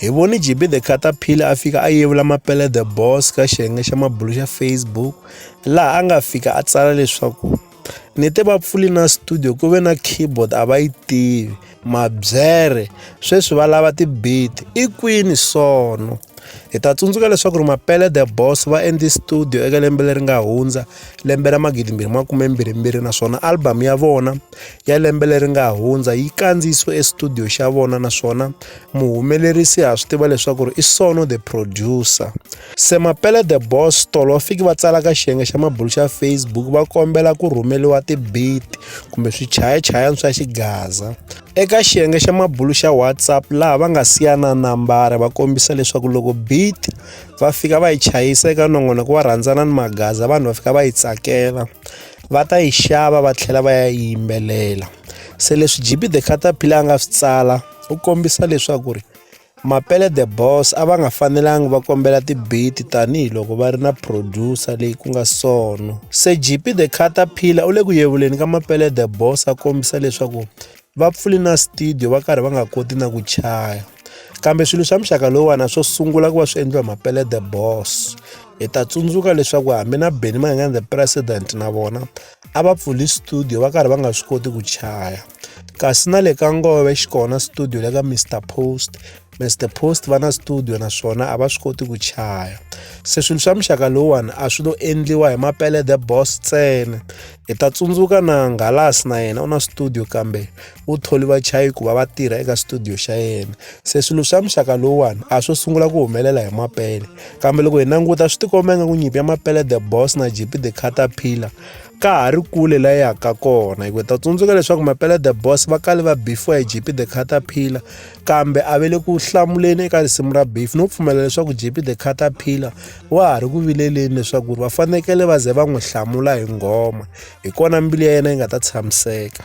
Hi vone JB The Cutter Phila a fika a yevula Mapele The Boss ka xiyenge xa mabulu xa Facebook laha a nga fika a tsala leswaku ni te va pfuli na studio ku ve na keyboard a va yi tivi mabyere sweswi va lava ti-beat i kwini sono hi ta tsundzuka leswaku ri mapele the boss va endli studio eka lembe leri nga hundza lembe ra magidimbirhi makume mbirhi mbirhi naswona album ya vona ya lembe leri nga hundza yi kandziyisiwe estudio xa vona naswona muhumelerisi ha swi tiva leswaku ri i sono the producer se mapele the boss tolo va fiki va tsala ka xiyenge xa mabulu xa facebook va kombela ku rhumeliwa tibit kumbe swichayachayani swa xigaza eka xiyenge xa mabulu xa whatsapp laha va nga siyana nambara va kombisa leswaku loko bit va fika va yi chayisa eka nongonoko wa rhandzana ni magaza vanhu va fika va yi tsakela va ta yi xava va tlhela va ya yimbelela se leswi G_B the Caterpillar a nga swi tsala u kombisa leswaku ri Mapele the Boss a va nga fanelanga va kombela ti-beat tanihiloko va ri na producer leyi ku nga Sono se G_B the Caterpillar u le ku yevuleni ka Mapele the Boss a kombisa leswaku va pfule na studio va karhi va nga koti na ku chaya kambe swilo swa muxaka lowuwana swo sungula ku va swi endliwa mapele the boss hi ta tsundzuka leswaku hambi na benny mangangani the president na vona a va pfuli studio va karhi va nga swi koti ku chaya kasi na le ka ngove xi kona studio le ka mr post mr post va na studio naswona a va swi koti ku chaya se swilo swa muxaka lowuwani a swi lo endliwa hi mapele the boss ntsena hi ta tsundzuka na nghalasi na yena u na studio kambe u tholi vachayi ku va va tirha eka studio xa yena se swilo swa muxaka lowuwani a swo sungula ku humelela hi mapele kambe loko hi languta swi tikomba ingaku nyimpi ya mapele the boss na gp the caterpillar ka ha ri kule la yaka kona hikuva ta tsundzuka leswaku mapele the boss va kale va bifiwa hi gp the caterpillar kambe a ve le ku hlamuleni eka risimu ra beef no pfumela leswaku gp the caterpillar wa ha ri ku vileleni leswaku va fanekele va ze va n'wi hlamula hi nghoma hi kona mbilu ya yena yi nga ta tshamiseka